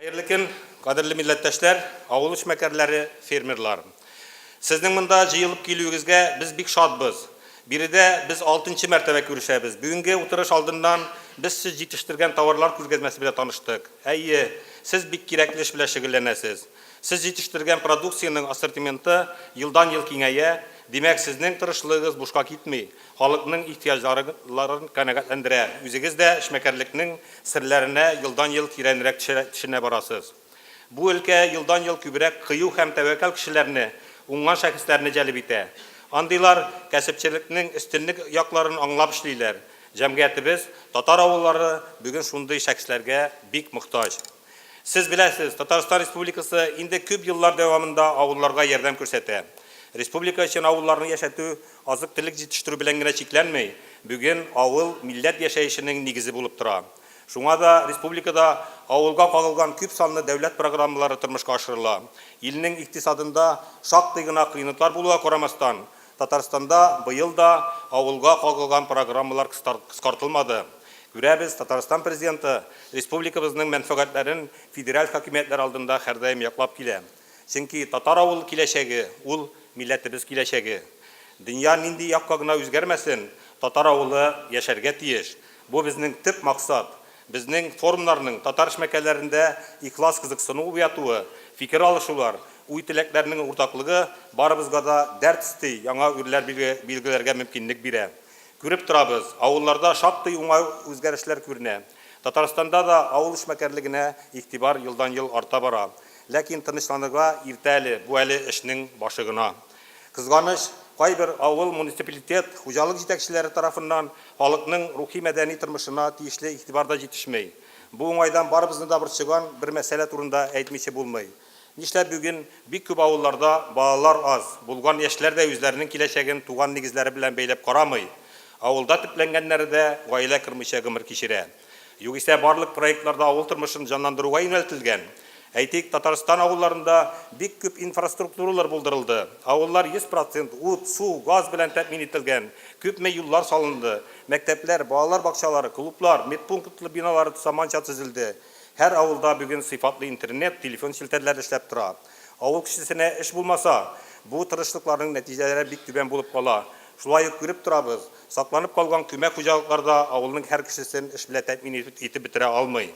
Хәерле көн, кадерле милләттәшләр, авыл эшмәкәрләре, фермерларым. Сезнең монда җыелып килүегезгә без бик шатбыз. Биредә без алтынчы мәртәбә күрешәбез. Бүгенге утырыш алдыннан без сез җитештергән товарлар күргәзмәсе белән таныштык. Әйе, сез бик кирәкле эш белән шөгыльләнәсез. Сез җитештергән продукциянең ассортименты елдан-ел киңәя, димәк, сезнең тырышлыгыгыз бушка китми, халыкның ихтыяҗларын канәгатьләндерә, үзегез дә эшмәкәрлекнең серләренә елдан-ел тирәнрәк төшенә барасыз. Бу өлкә елдан-ел күбрәк кыю һәм тәвәккәл кешеләрне, уңган шәхесләрне җәлеп итә. Андыйлар кәсепчелекнең өстенлек якларын аңлап эшлиләр. Җәмгыятебез, татар авыллары бүген шундый шәхесләргә бик мохтаҗ. Сез беләсез, Татарстан Республикасы инде күп еллар дәвамында авылларга ярдәм күрсәтә. Республика өчен авылларны яшәтү азык-төлек җитештерү белән генә чикләнми, бүген авыл милләт яшәешенең нигезе булып тора. Шуңа да республикада авылга кагылган күп санлы дәүләт программалары тормышка ашырыла. Илнең икътисадында шактый гына кыенлыклар булуга карамастан, Татарстанда быел да авылга кагылган программалар кыскартылмады. Күрәбез, Татарстан Президенты республикабызның мәнфәгатьләрен федераль хакимиятләр алдында һәрдаим яклап килә. Чөнки татар авыл киләчәге, ул, милләтебез киләчәге. Дөнья нинди якка гына үзгәрмәсен, татар авылы яшәргә тиеш. Бу безнең төп максат. Безнең форумнарның, татар эшмәкәрләрендә ихлас кызыксыну уятуы, фикер алышулар, уй-теләкләрнең уртаклыгы барыбызга да дәрт өсти яңа үрләр билгеләргә мөмкинлек бирә. Күреп торабыз, авылларда шактый уңай үзгәрешләр күренә. Татарстанда да авыл эшмәкәрлегенә игътибар елдан-ел арта бара. Ләкин тынычланырга иртә әле, бу әле эшнең башы гына. Кызганыч, кайбер авыл, муниципалитет, хуҗалык җитәкчеләре тарафыннан халыкның рухи-мәдәни тормышына тиешле игътибар да җитешми. Бу уңайдан барыбызны да борчыган бер мәсьәлә турында әйтмичә булмый. Нишләп бүген бик күп авылларда балалар аз, булган яшьләр дә үзләренең киләчәген туган нигезләре белән бәйләп карамый, авылда төпләнгәннәре дә гаилә кормыйча гомер кичерә? Югисә барлык проектларда авыл тормышын җанландыруга юнәлтелгән. Әйтик, Татарстан авылларында бик күп инфраструктуралар булдырылды. Авыллар 100 процент ут, су, газ белән тәэмин ителгән, күпме юллар салынды, мәктәпләр, балалар бакчалары, клублар, медпунктлы биналар заманча төзелде. Һәр авылда бүген сыйфатлы интернет, телефон челтәрләре эшләп тора. Авыл кешесенә эш булмаса, бу тырышлыкларның нәтиҗәләре бик түбән булып кала. Шулай ук күреп торабыз, сакланып калган күмәк хуҗалыклар да авылның һәр кешесен эш белән тәэмин итеп бетерә алмый.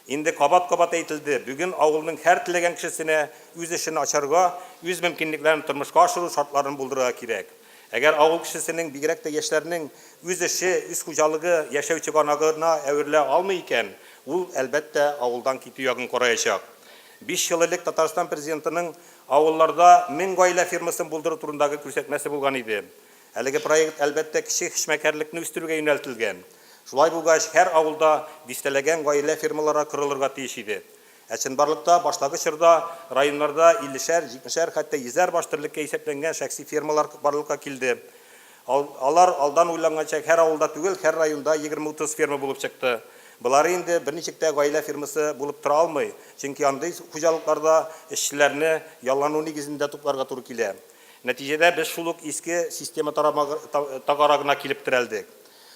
Инде кабат-кабат әйтелде, бүген авылның һәр теләгән кешесенә үз эшен ачарга, үз мөмкинлекләрен тормышка ашыру шартларын булдырырга кирәк. Әгәр авыл кешесенең, бигрәк тә яшьләрнең үз эше, үз хуҗалыгы яшәү чыганагына әверелә алмый икән, ул, әлбәттә, авылдан китү ягын караячак. Биш ел элек Татарстан Президентының авылларда мең гаилә фермасын булдыру турындагы күрсәтмәсе булган иде. Әлеге проект, әлбәттә, кече эшмәкәрлекне үстерүгә юнәлтелгән. Шулай булгач, һәр авылда дистәләгән гаилә фермалары корылырга тиеш иде. Ә чынбарлыкта, баштагы чорда районнарда иллешәр, җитмешәр, хәтта йөзәр баш терлеккә исәпләнгән шәхси фермалар барлыкка килде. Ал, алар алдан уйланганча һәр авылда түгел, һәр районда егерме-утыз ферма булып чыкты. Болары инде берничек тә гаилә фермасы булып тора алмый, чөнки андый хуҗалыкларда эшчеләрне яллану нигезендә тупларга туры килә. Нәтиҗәдә без шул ук иске система тарамагы, та, тагарагына килеп терәлдек.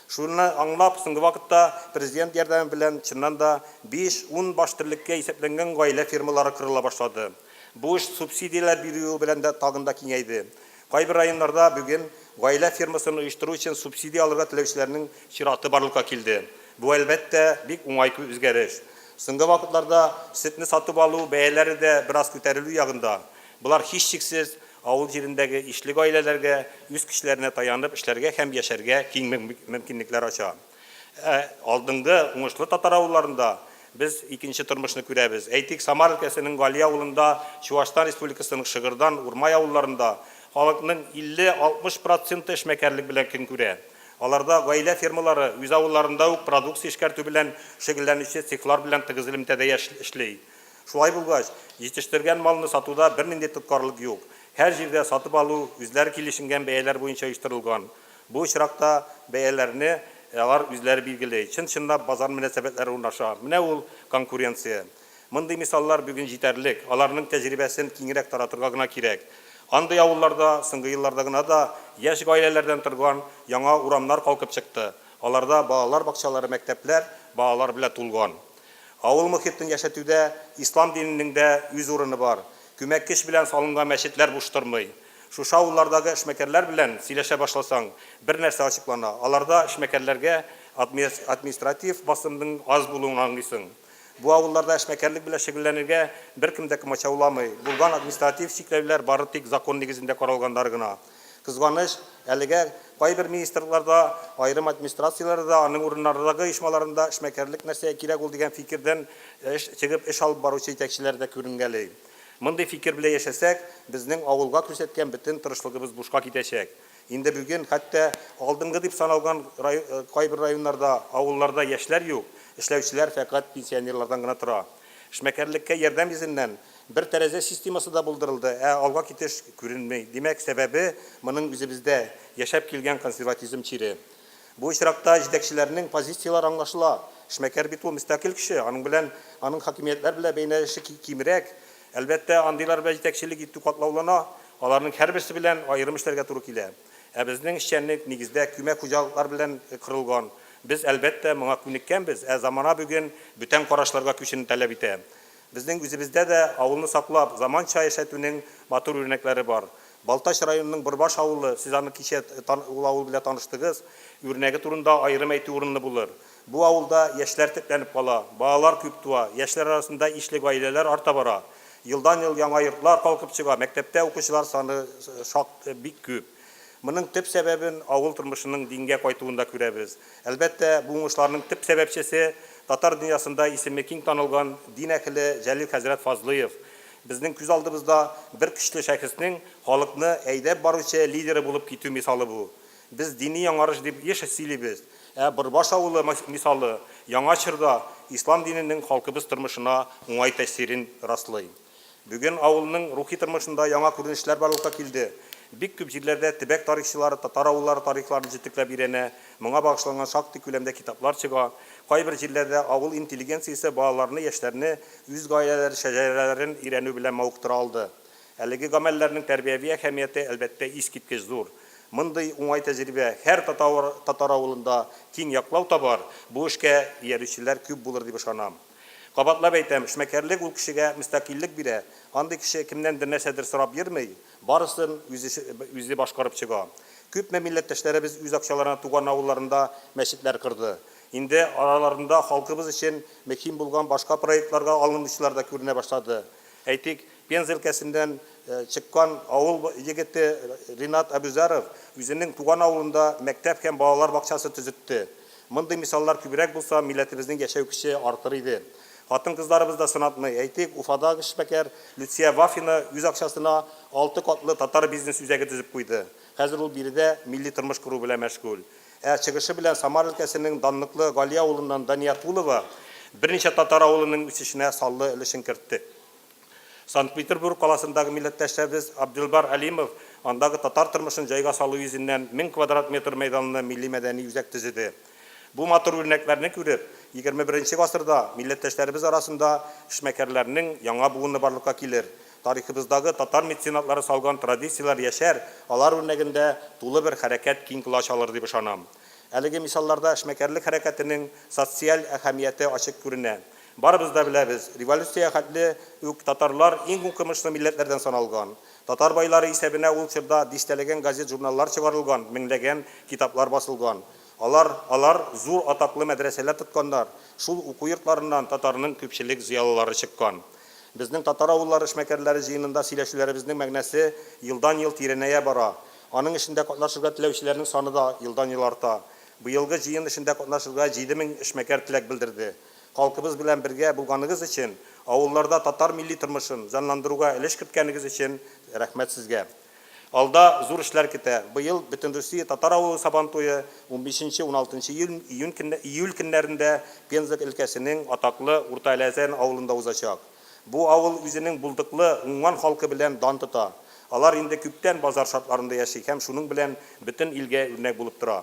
Шуны аңлап, соңгы вакытта Президент ярдәме белән чыннан да биш-ун баш терлеккә исәпләнгән гаилә фермалары корыла башлады. Бу эш субсидияләр бирүе белән дә тагын да киңәйде. Кайбер районнарда бүген гаилә фермасын оештыру өчен субсидия алырга теләүчеләрнең чираты барлыкка килде. Бу, әлбәттә, бик уңай үзгәреш. Соңгы вакытларда сөтне сатып алу бәяләре дә бераз күтәрелү ягында. Болар, һичшиксез, авыл җирендәге ишле гаиләләргә үз көчләренә таянып эшләргә һәм яшәргә киң мөмкинлекләр ача. Ә алдынгы уңышлы татар авылларында без икенче тормышны күрәбез. Әйтик, Самар өлкәсенең Гали авылында, Чуашстан Республикасының Шыгырдан, Урмай авылларында халыкның 50-60 проценты эшмәкәрлек белән көн күрә. Аларда гаилә фермалары, үз авылларында ук продукция эшкәртү белән шөгыльләнүче цехлар белән тыгыз элемтәдә эшли. Шулай булгач, җитештергән малны сатуда бернинди тоткарлык юк. Һәр җирдә сатып алу үзләре килешенгән бәяләр буенча оештырылган. Бу очракта бәяләрне алар үзләре билгели. Чын-чынлап базар мөнәсәбәтләре урнаша. Менә ул, конкуренция. Мондый мисаллар бүген җитәрлек. Аларның тәҗрибәсен киңрәк таратырга гына кирәк. Андый авылларда соңгы елларда гына да яшь гаиләләрдән торган яңа урамнар калкып чыкты. Аларда балалар бакчалары, мәктәпләр балалар белән тулган. Авыл мохитен яшәтүдә ислам диненең дә үз урыны бар. Күмәк көч белән салынган мәчетләр буш тормый. Шушы авыллардагы эшмәкәрләр белән сөйләшә башласаң, бер нәрсә ачыклана, аларда эшмәкәрләргә административ басымның аз булуын аңлыйсың. Бу авылларда эшмәкәрлек белән шөгыльләнергә беркем дә комачауламый, булган административ чикләүләр бары тик закон нигезендә каралганнар гына. Кызганыч, әлегә кайбер министрлыкларда, аерым администрацияләрдә, аның урыннардагы оешмаларында эшмәкәрлек нәрсәгә кирәк ул дигән фикердән чыгып эш алып баручы җитәкчеләр дә күренгәли. Мондый фикер белән яшәсәк, безнең авылга күрсәткән бөтен тырышлыгыбыз бушка китәчәк. Инде бүген хәтта алдынгы дип саналган кайбер районнарда, авылларда яшьләр юк, эшләүчеләр фәкать пенсионерлардан гына тора. Эшмәкәрлеккә ярдәм йөзеннән бер тәрәзә системасы да булдырылды, ә алга китеш күренми. Димәк, сәбәбе моның үзебездә яшәп килгән консерватизм чире. Бу очракта җитәкчеләрнең позицияләре аңлашыла. Эшмәкәр бит ул мөстәкыйль кеше, аның белән, аның хакимиятләр белән бәйнәлеше кимрәк. Әлбәттә, андыйлар белән җитәкчелек итү катлаулана, аларның һәрберсе белән аерым эшләргә туры килә. Ә безнең эшчәнлек, нигездә, күмәк хуҗалыклар белән корылган. Без, әлбәттә, моңа күнеккәнбез, ә замана бүген бүтән карашларга күчүне таләп итә. Безнең үзебездә дә авылны саклап, заманча яшәтүнең матур үрнәкләре бар. Балтач районының Борбаш авылы, сез аны кичә ул авыл белән таныштыгыз, үрнәге турында аерым әйтү урынлы булыр. Бу авылда яшьләр төпләнеп кала, балалар күп туа, яшьләр арасында ишле гаиләләр арта бара. Елдан-ел яңа йортлар калкып чыга, мәктәптә укучылар саны шактый бик күп. Моның төп сәбәбен авыл тормышының дингә кайтуында күрәбез. Әлбәттә, бу уңышларның төп сәбәпчесе, татар дөньясында исеме киң танылган дин әһеле Җәлил хәзрәт Фазлыев. Безнең күз алдыбызда бер көчле шәхеснең халыкны әйдәп баручы лидеры булып китү мисалы бу. Без дини яңарыш дип еш сөйлибез, ә Борбаш авылы мисалы яңа чорда ислам диненең халкыбыз тормышына уңай тәэсирен раслый. Бүген авылның рухи тормышында яңа күренешләр барлыкка килде. Бик күп җирләрдә төбәк тарихчылары татар авыллары тарихларын җентекләп өйрәнә, моңа багышланган шактый күләмдә китаплар чыга. Кайбер җирләрдә авыл интеллигенциясе балаларны, яшьләрне үз гаиләләре шәҗәрәләрен өйрәнү белән мавыктыра алды. Әлеге гамәлләрнең тәрбияви әһәмияте, әлбәттә, искиткеч зур. Мондый уңай тәҗрибә һәр татар авылында киң яклау табар, бу эшкә иярүчеләр күп булыр дип ышанам. Кабатлап әйтәм, эшмәкәрлек ул кешегә мөстәкыйльлек бирә. Андый кеше кемнәндер нәрсәдер сорап йөрми, барысын үзе башкарып чыга. Күпме милләттәшләребез үз акчаларына туган авылларында мәчетләр корды. Инде араларында халкыбыз өчен мөһим булган башка проектларга алынучылар да күренә башлады. Әйтик, Пенза өлкәсеннән чыккан авыл егете Ринат Әбүзәров үзенең туган авылында мәктәп һәм балалар бакчасы төзетте. Мондый мисаллар күбрәк булса, милләтебезнең яшәү көче артыр иде. Хатын-кызларыбыз да сынатмый. Әйтик, Уфадагы эшмәкәр Люция Вафина үз акчасына алты катлы татар бизнес үзәге төзеп куйды. Хәзер ул биредә милли тормыш кору белән мәшгуль. Ә чыгышы белән Самар өлкәсенең данлыклы Гали авылыннан Дания Тулова берничә татар авылының үсешенә саллы өлешен кертте. Санкт-Петербург каласындагы милләттәшебез Абделбар Әлимов андагы татар тормышын җайга салу йөзеннән 1000 квадрат метр мәйданлы милли-мәдәни үзәк төзеде. Бу матур үрнәкләрне күреп, егерме-беренче гасырда милләттәшләребез арасында эшмәкәрләрнең яңа буыны барлыкка килер, тарихыбыздагы татар меценатлары салган традицияләр яшәр, алар үрнәгендә тулы бер хәрәкәт киң колач алыр дип ышанам. Әлеге мисалларда эшмәкәрлек хәрәкәтенең социаль әһәмияте ачык күренә. Барыбыз да беләбез, революция хәтле үк татарлар иң укымышлы милләтләрдән саналган. Татар байлары исәбенә ул чорда дистәләгән газет-журналлар чыгарылган, меңләгән китаплар басылган. Алар алар зур атаклы мәдрәсәләр тотканнар, шул уку йортларыннан татарның күпчелек зыялылары чыккан. Безнең татар авыллары эшмәкәрләре җыенында сөйләшүләребезнең мәгънәсе елдан-ел тирәнәя бара, аның эшендә катнашырга теләүчеләрнең саны да елдан-ел арта. Быелгы җыен эшендә катнашырга җиде мең эшмәкәр теләк белдерде. Халкыбыз белән бергә булганыгыз өчен, авылларда татар милли тормышын җанландыруга өлеш керткәнегез өчен рәхмәт сезгә. Алда зур эшләр көтә. Быел Бөтенрусия татар авылы Сабантуе унбишенче, уналтынчы июль көннәрендә Пенза өлкәсенең атаклы Урта Әләзән авылында узачак. Бу авыл үзенең булдыклы, уңган халкы белән дан тота. Алар инде күптән базар шартларында яши һәм шуның белән бөтен илгә үрнәк булып тора.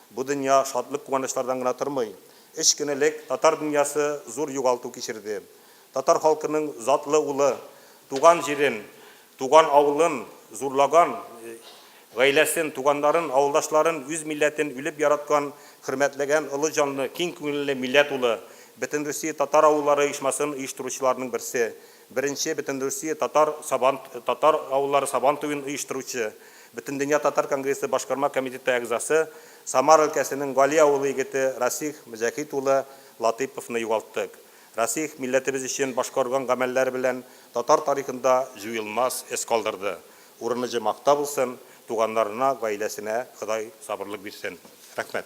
Бу дөнья шатлык-куанычлардан гына тормый. Өч көн элек татар дөньясы зур югалту кичерде. Татар халкының затлы улы, туган җирен, туган авылын зурлаган, гаиләсен, туганнарын, авылдашларын, үз милләтен үлеп яраткан, хөрмәтләгән олы җанлы, киң күңелле милләт улы, Бөтенрусия татар авыллары оешмасын оештыручыларның берсе, Беренче Бөтенрусия татар Сабан татар авыллары Сабан туен оештыручы, Бөтендөнья татар конгрессы башкарма комитеты әгъзасы, Самар өлкәсенең Гали авылы егете Расих Мөҗәһит улы Латыйповны югалттык. Расих милләтебез өчен башкарган гамәлләре белән татар тарихында җуелмас эз калдырды. Урыны җомакта булсын, туганнарына, гаиләсенә Ходай сабырлык бирсен. Рәхмәт.